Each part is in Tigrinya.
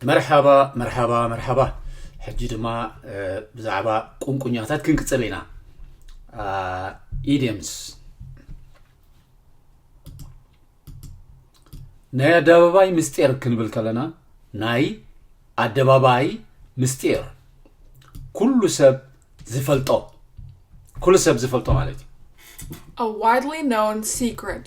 መርሓባ መርሓባ መርሓባ ሕጂ ድማ ብዛዕባ ቁንቁኛታት ክንቅፅል ኢና ኢድምስ ናይ ኣደባባይ ምስጢር ክንብል ከለና ናይ ኣደባባይ ምስጢር ኩሉ ሰብ ዝፈልጦ ኩሉ ሰብ ዝፈልጦ ማለት እዩ a widely known secret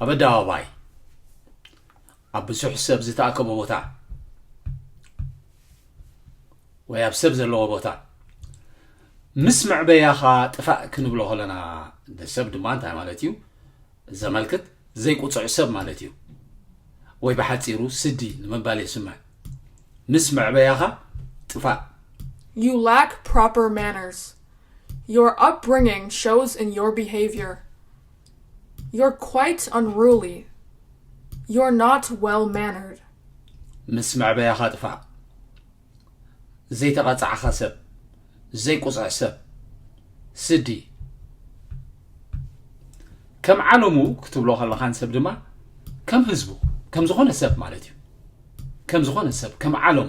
ኣብ ኣደባባይ ኣብ ብዙሕ ሰብ ዝተኣከቦ ቦታ ወይ ኣብ ሰብ ዘለዎ ቦታ ምስ መዕበያኻ ጥፋእ ክንብሎ ከለና ሰብ ድማ እንታይ ማለት እዩ ዘመልክት ዘይቁፅዕ ሰብ ማለት እዩ ወይ ብሓፂሩ ስዲ ንምባል የስምዕ ምስ መዕበያኻ ጥፋእ You lack proper manners. Your upbringing shows in your behavior. You're quite unruly. You're not well mannered. ምስ መዕበያኻ ጥፋእ። ዘይተቐጻዕኻ ሰብ። ዘይቁጽዕ ሰብ። ስዲ። ከም ዓለሙ ክትብሎ ከለኻን ሰብ ድማ ከም ህዝቡ ከም ዝኾነ ሰብ ማለት እዩ ከም ዝኾነ ሰብ ከም ዓለሙ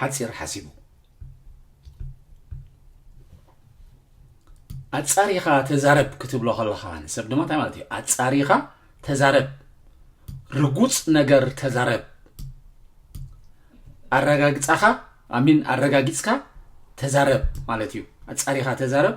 ሓጺር ሓሲቡ ኣጻሪኻ ተዛረብ ክትብሎ ከለኻ ንሰብ ድማ እንታይ ማለት እዩ ኣጻሪኻ ተዛረብ ርጉፅ ነገር ተዛረብ ኣረጋግፃኻ ኣሚን ኣረጋጊፅካ ተዛረብ ማለት እዩ ኣጻሪኻ ተዛረብ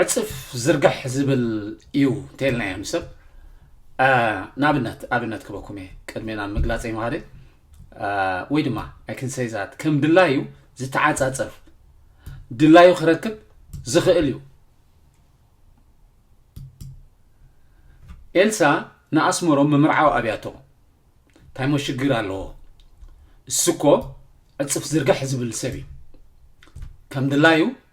ዕጽፍ ዝርግሕ ዝብል እዩ እንተልና እዮም ሰብ ንኣብነት ኣብነት ክበኩም እየ ቅድሜ ናብ ምግላፀ ይምሃደ ወይ ድማ ኣይክንሰይዛት ከም ድላዩ ዝተዓፃፀፍ ድላዩ ክረክብ ዝኽእል እዩ ኤልሳ ንኣስመሮም ምምርዓው ኣብያቶ እንታይ ሞ ሽግር ኣለዎ እሱ እኮ ዕፅፍ ዝርግሕ ዝብል ሰብ እዩ ከም ድላዩ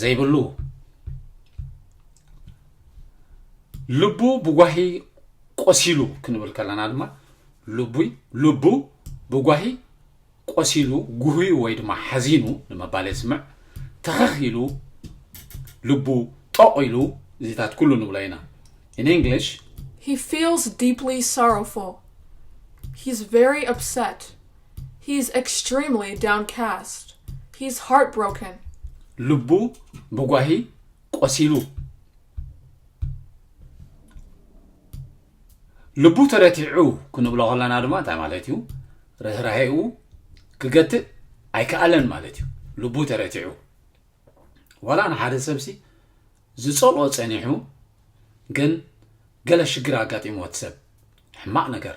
ዘይብሉ ልቡ ብጓሂ ቆሲሉ ክንብል ከለና ድማ ልቡይ ልቡ ብጓሂ ቆሲሉ ጉህዩ ወይ ድማ ሓዚኑ ንምባል የስምዕ ተኸኽ ኢሉ ልቡ ጠቑ ኢሉ እዚታት ኩሉ ንብሎ ኢና in english he feels deeply sorrowful he's very upset He is extremely downcast. He is heartbroken. ልቡ ብጓሂ ቆሲሉ። ልቡ ተረቲዑ ክንብሎ ከለና ድማ እንታይ ማለት እዩ ርህራሄኡ ክገትእ ኣይከኣለን ማለት እዩ ልቡ ተረቲዑ ዋላ ንሓደ ሰብሲ ዝፀልኦ ፀኒሑ ግን ገለ ሽግር ኣጋጢሞ እቲ ሰብ ሕማቕ ነገር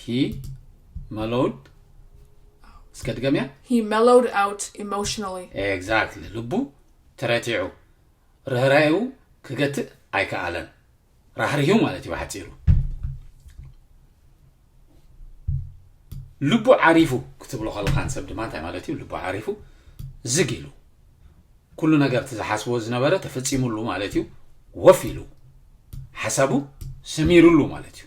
He mellowed እስከ ድገምያ He mellowed out emotionally. ኤግዛክትሊ ልቡ ተረቲዑ ርህራኤኡ ክገትእ ኣይከኣለን ራህሪሁ ማለት እዩ ብሓፂሩ ልቡ ዓሪፉ ክትብሎ ከለካ ንሰብ ድማ እንታይ ማለት እዩ ልቡ ዓሪፉ ዝግ ኢሉ ኩሉ ነገር እቲ ዝሓስቦ ዝነበረ ተፈፂሙሉ ማለት እዩ ወፍ ኢሉ ሓሳቡ ሰሚሩሉ ማለት እዩ